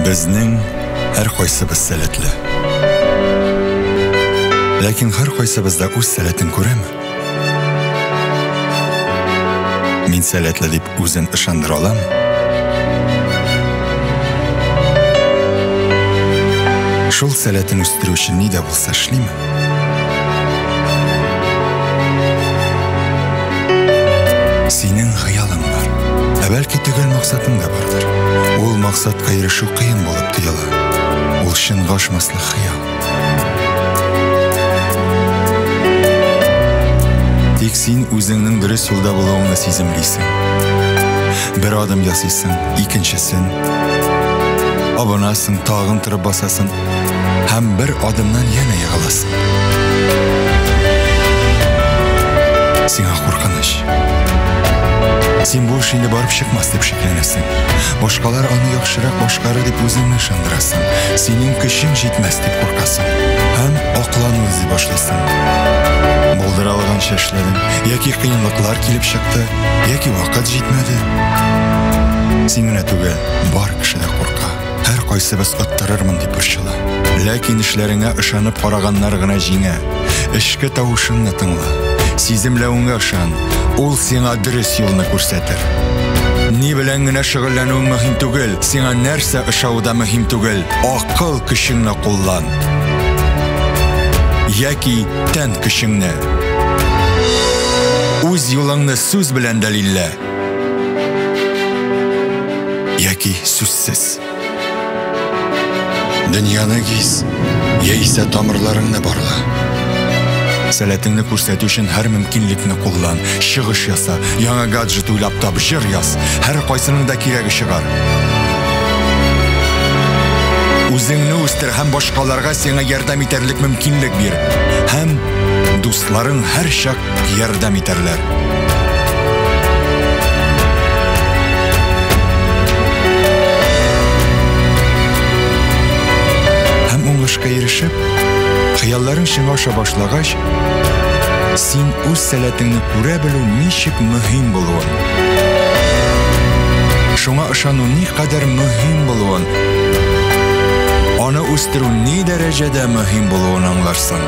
Безнең һәркайсыбыз сәләтле. Ләкин һәркайсыбыз да үз сәләтен күрәме? Мин сәләтле дип үзен ышандыра алам. Шул сәләтен үстерү өчен ни дә булса эшлим. Синең хыялың бар. Ә бәлки төгәл максатың да бардыр. Ул максатка ирешү кыен булып тоела. Ул чынга ашмаслык хыял. Тик син үзеңнең дөрес юлда булуыңны сиземлисең. Бер адым ясыйсың, икенчесен. Абынасың, тагын торып басасың, Һәм бер адымнан янә егыласың. Сиңа куркыныч. Син бу эш инде барып чыкмас дип шикләнәсең. Башкалар аны яхшырак башкарыр дип үзеңне ышандырасың. Синең көчең җитмәс дип куркасың. Һәм аклану эзли башлыйсың. Булдыра алганча эшләдең, яки кыенлыклар килеп чыкты, яки вакыт җитмәде. Син генә түгел, бар кеше дә курка. Һәркайсыбыз оттырырмын дип борчыла. Ләкин эшләреңә ышанып караганнар гына җиңә. Эшке тавышыңны тыңла. Сиземләвеңә ышан. Ул сиңа дөрес юлны күрсәтер. Ни белән генә шөгыльләнүең мөһим түгел, сиңа нәрсә ошавы да мөһим түгел. Акыл көчеңне куллан. Яки тән көчеңне. Үз юлыңны сүз белән дәлиллә. Яки сүзсез. Дөньяны гиз, яисә тамырларыңны барла. Сәләтеңне күрсәтү өчен һәр мөмкинлекне куллан, чыгыш яса, яңа гаджет уйлап тап, җыр яз. Һәр кайсының да кирәге чыгар. Үзеңне үстер һәм башкаларга сиңа ярдәм итәрлек мөмкинлек бир. Һәм дусларың һәрчак ярдәм итәрләр. Һәм уңышка ирешеп, хыялларың чынга аша башлагач, син үз сәләтеңне күрә белү ничек мөһим булуын, шуңа ышану никадәр мөһим булуын, аны үстерү ни дәрәҗәдә мөһим булуын аңларсың.